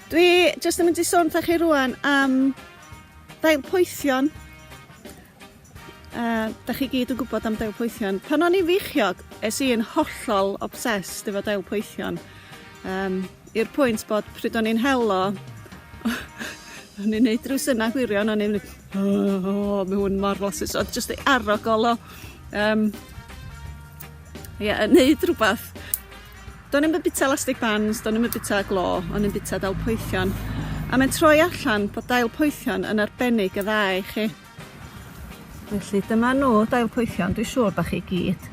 Dwi jyst yn mynd i sôn ta chi rwan am dail poethion. Uh, da chi gyd yn gwybod am dail poethion. Pan o'n i'n feichiog, es i'n hollol obsessed efo dail poethion. Um, i'r pwynt bod pryd o'n i'n hel o o'n i'n neud ryw synau gwirion o'n i'n mynd oh oh ma' hwn mor flasus o'dd jyst ei arogl o yym ie yn neud rwbath. Do'n i'm yn bita elastic bands do'n i'm yn bita glo o'n i'n bita dail poethion a mae'n troi allan bod dail poethion yn arbennig o dda i chi. Felly dyma nhw, dail poethion, dwi'n siŵr bod chi gyd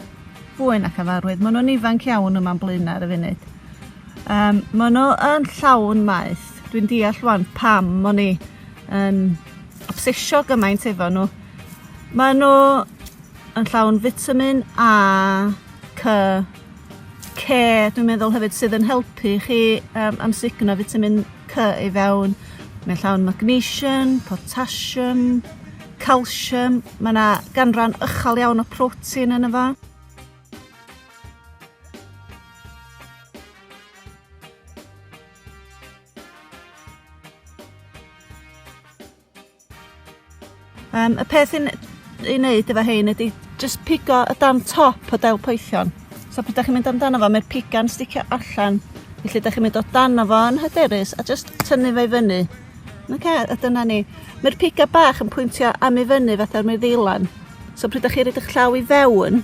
fwy nac yn farwydd. Maen nhw'n ifanc iawn yma'n blaenau ar y funud. Um, maen nhw yn llawn maeth. Dwi'n deall wan pam o'n i yn obsesio gymaint efo nhw. Maen nhw yn llawn vitamin A, C, ce dwi'n meddwl hefyd sydd yn helpu chi um, amsugno fitamin C i fewn. Mae'n llawn magnesium, potassium, calsium, mae yna ganran ychal iawn o protein yn efo. Um, y peth i'n ei wneud efo hein ydy just pigo y dan top o dail poethion. So pryd ydych chi'n mynd amdano fo, mae'r piga'n sticio allan. Felly ydych chi'n mynd o dan o fo yn hyderus a just tynnu fe i fyny. Okay, a dyna ni. Mae'r piga bach yn pwyntio am i fyny fatha'r mae'r ddeilan. So pryd ydych chi'n rhaid eich llaw i fewn,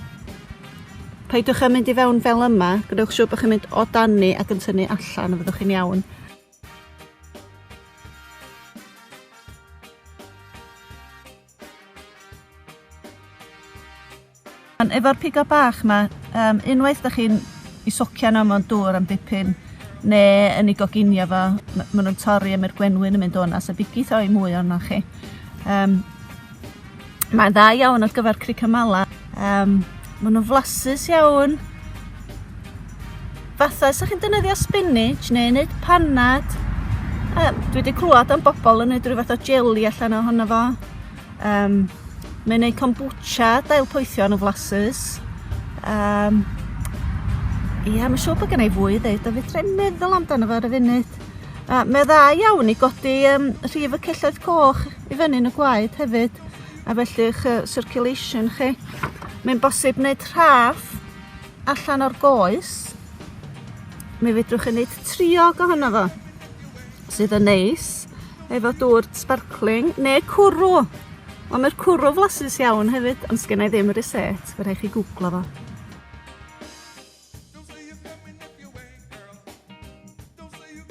paidwch â mynd i fewn fel yma, gwnewch siŵr bod chi'n mynd o dan ni ac yn tynnu allan a fyddwch chi'n iawn. Efo'r pigo bach 'ma, um, unwaith da chi'n i socio nhw mewn dŵr am dipyn, neu yn ei goginio fo, maen nhw'n torri a mae'r gwenwyn yn mynd o'na, so bigith o'i mwy o'na chi. Um, Mae'n dda iawn ar gyfer cricamala. Um, maen nhw'n flasus iawn. Fatha, sa'ch chi'n dynyddio spinach neu wneud panad, uh, dwi wedi clywed am bobl yn wneud rhyw fath o jelly allan ohono fo. Um, mae'n gwneud kombucha, dail poethio yn y flasus. Um, ia, mae'n siŵr bod gen i fwy i ddeud, a fyddra'n meddwl amdano fo ar y funud. Uh, mae dda iawn i godi um, rhif y celloedd coch i fyny yn y gwaed hefyd a felly eich yy circulation chi. Mae'n bosib wneud rhaff allan o'r goes. Mi fedrwch chi wneud triog ohono fo sydd yn neis efo dŵr sparkling neu cwrw. Ond mae'r cwrw flasus iawn hefyd, ond sgynna i ddim y reset, fe rhaid chi gwglo fo.